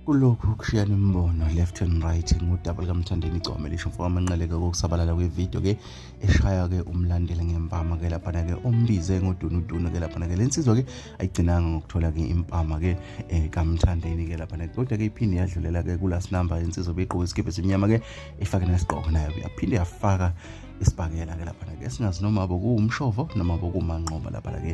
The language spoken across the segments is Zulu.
kulokhu kushiyana imibono left and right ngudaba likamthandeni igcome lisho mfo wamanqeleke kokusabalala kwevidiyo ke eshaya-ke umlandela ngempama ke laphana-ke ombize ngodunudunu ke laphana-ke le nsizwa-ke ayigcinanga ngokuthola-ke impama-ke um eh, kamthandeni ke laphana-ke kodwa-ke iphinde yadlulela-ke kulasinamba insizwa beyigqoke isikibhe simnyama-ke ifake nesigqoko nayo yaphinde yafaka isibhakela-ke laphana-ke singazi noma bokuwumshovo noma bokumanqoba laphana-ke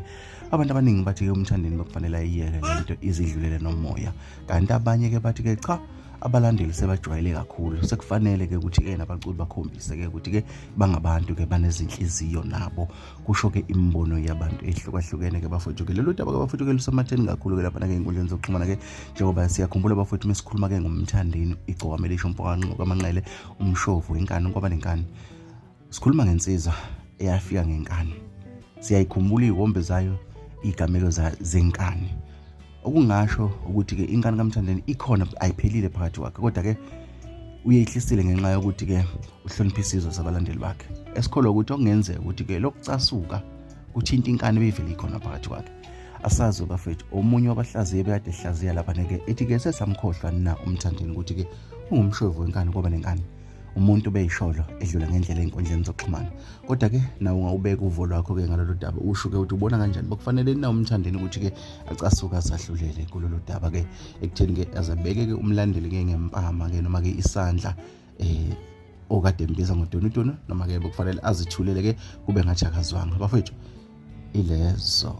abantu abaningi bathi-ke umthandeni bakufanele ayiyeke le nto izidlulele nomoya kanti abanye-ke bathi-ke cha abalandeli sebajwayele kakhulu sekufanele-ke ukuthi-ke nabaculi bakhombise-ke ukuthi-ke bangabantu-ke banezinhliziyo nabo kusho-ke imibono yabantu ehlukahlukene-ke bafowethu-ke lolu daba ke bafowethu-ke lusematheni kakhulu-ke laphana-ke ey'nkundleni zokuxhumana-ke njengoba siyakhumbula bafowethu uma sikhuluma-ke ngomthandeni igcokama elisho mpokanqokamanqele umshovu inkani kwaba nenkani sikhuluma ngensizwa eyafika ngenkani siyayikhumbula iy'kombe zayo iy'gamelo zenkani okungasho ukuthi-ke inkani kamthandeni ikhona ayiphelile phakathi kwakhe kodwa-ke uyeyihlisile ngenxa yokuthi-ke uhlonipha isizwe sabalandeli bakhe esikholwa ukuthi okungenzeka ukuthi-ke lokucasuka kuthinta inkani ebeyivele ikhona phakathi kwakhe asazi bafethu omunye wabahlaziye bekade ehlaziya lapha neke ethi-ke sesamkhohlwa na umthandeni ukuthi-ke ungumshovu wenkani koba nenkani umuntu ubeyisholo edlula ngendlela ey'nkundleni zokuxhumana kodwa-ke nawe ungawubeka uvo lwakho-ke ngalolu daba usho-ke ukuthi ubona kanjani bakufanele na umthandeni ukuthi-ke acasuke asahlulele kulolu daba-ke ekutheni-ke azabeke-ke umlandeli-ke ngempama-ke noma-ke isandla um okade mbiza ngodonudonu noma-ke bekufanele azithulele-ke kube ngathi akazwanga bafowethu ilezo